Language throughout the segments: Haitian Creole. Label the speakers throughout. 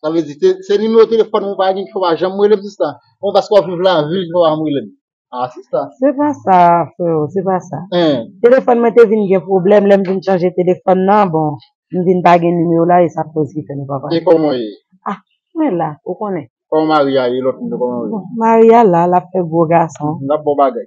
Speaker 1: Sa vle di,
Speaker 2: se nimewo telefòn mwen pa gen ki fè w pa janm rele m sista? Oubyen paske w ap viv lavil ki fè w pa janm rele m? A sista! Se pa sa
Speaker 1: freo, se pa sa. Telefòn mwen
Speaker 2: te vin
Speaker 1: gen pwoblèm, lè m vin chanje telefòn nan, bon, m vin pa gen nimewo la e sa koz ki fè nou pa pale. E kòman w ye? A,
Speaker 2: mwen la,
Speaker 1: ou konnen. Kòman mari a ye, lòt
Speaker 2: moun yo kòman yo ye? Bon, mari a la, l
Speaker 1: ap fè gwo gason. L ap bon bagay.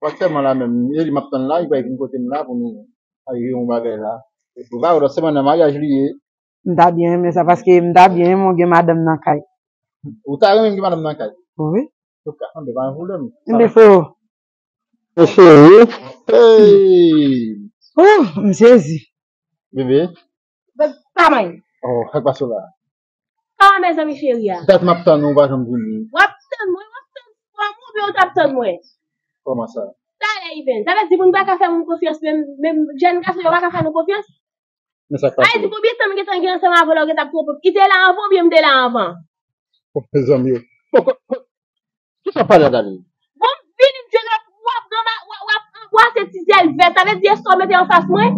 Speaker 2: Pastè man la menm e li map tann la li pa vin kotem la pou nou arive yon bagay la ou pa wè lòt semen nan maryaj li ye. M ta byen renmen
Speaker 1: sa paske m ta byen renmen w gen madanm nan kay. Ou ta renmen
Speaker 2: m gen madanm nan kay? Wi. Ok
Speaker 1: anben pa
Speaker 2: gen pwoblèm. Anben freo.
Speaker 1: Anben
Speaker 2: freo eeyy. Ooh
Speaker 1: m sezi. Bebe.
Speaker 2: Bebe pa
Speaker 3: manyen. Oh sak pase
Speaker 2: w la. Ah
Speaker 3: mezanmi cheri a. Dat map tann ou pa janm
Speaker 2: vini. Wap tann mwen wap
Speaker 3: tann fwa mwen oubyen ou tap tann mwen. Koman sa.
Speaker 2: Talè even. Sa
Speaker 3: vle di moun paka fè moun konfyans menm menm jèn gason yo paka fè nou konfyans. Men sak pase. Sa
Speaker 2: vle di konbyen tan m gentan
Speaker 3: gen
Speaker 2: ansanm
Speaker 3: avè w la ou gentan twonpe m. I te la anvan oubyen m te la anvan. Oh mezanmi
Speaker 2: oh. Bon kot kot kisa wap pale ak Aline. Bon m vini m
Speaker 3: jwenn wap wap anbrase ti zyel vèt. Sa vle di eskew mete anfas mwen.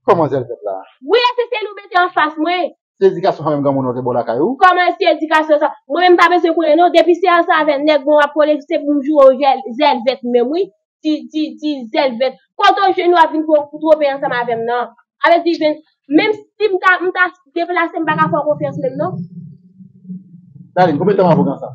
Speaker 3: Koman
Speaker 2: zèl fèt la. Wi ese seli ou mete
Speaker 3: anfas mwen. Se edikasyon sa menm granmoun
Speaker 2: an te baw lakay ou? Koman se edikasyon
Speaker 3: sa. Mwen menm pa bezwen konnen non depi se ansanm avè nèg mwen wap konnen se poum joure w zèl vèt menm wi ti ti ti zèl vèt kote w jwenn wap vin twope ansanm avèm nan avè di vin menm si m ta m ta deplase m paka fè w konfyans menm non.
Speaker 2: Darline konbyen tan wap avk ansanm.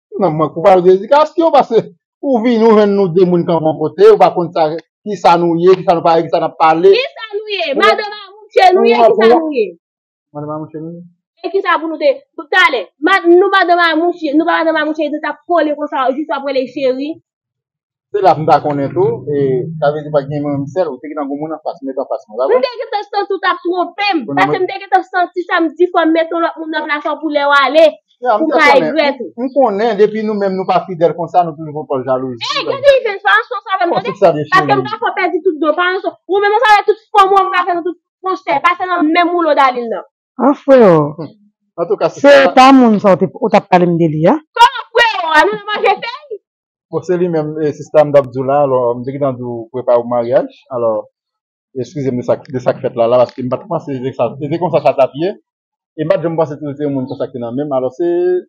Speaker 3: Nan mwen kou
Speaker 2: pale de edikasyon pase ou vini ou jwenn nou 2 moun kanpe yon kote ou pa konn sa kisa nou ye kisa nou pa ye kisa nap pale. Kisa nou ye?
Speaker 3: Madan Mamouche nou ye kisa nou ye? Madan Mamouche
Speaker 2: nou ye. E kisa pou nou te
Speaker 3: talè nou madan Mamouche nou pa madan Mamouche nou tap kole konsa jis wap rele cheri. Se la
Speaker 2: m ta konnen tou, e sa vle di pa t gen mwen menm sèl, ou te gentan gen yon moun anfas, met anfas mwen, pa vre? M te gentan santi w
Speaker 3: t ap twonpe m, pase m te gentan santi sa m di fò m met yon lòt moun nan plas ou pou lè w ale, pou m pa regrèt ou. M konnen, depi
Speaker 2: nou menm nou pa fidèl konsa, nou toujou pran pòz jalouzi. Ey, gen de ive, pa
Speaker 3: ranson sa avè m, tande? Kòm si sa de cheri. Pase m pa
Speaker 2: fè w pèdi tout
Speaker 3: do, pa ranson. Ou menm ou savè tout fòm ou an m ka fè nan tout konsèy, pase nan menm woulo Dalin nan. Ah freo.
Speaker 1: Antouka se sa.
Speaker 2: Se pa moun sa
Speaker 1: ou
Speaker 2: tap
Speaker 1: pale m de li a. Kòman freo a nou nan
Speaker 3: manje fèy. Bon se li menm
Speaker 2: sista m tap diw la alò m te gentan diw prepare pou maryaj alò eskize m de sak fèt la la paske m pat panse se konsa sa tap ye e m pat janm panse tou se yon moun konsa ki nan menm alò se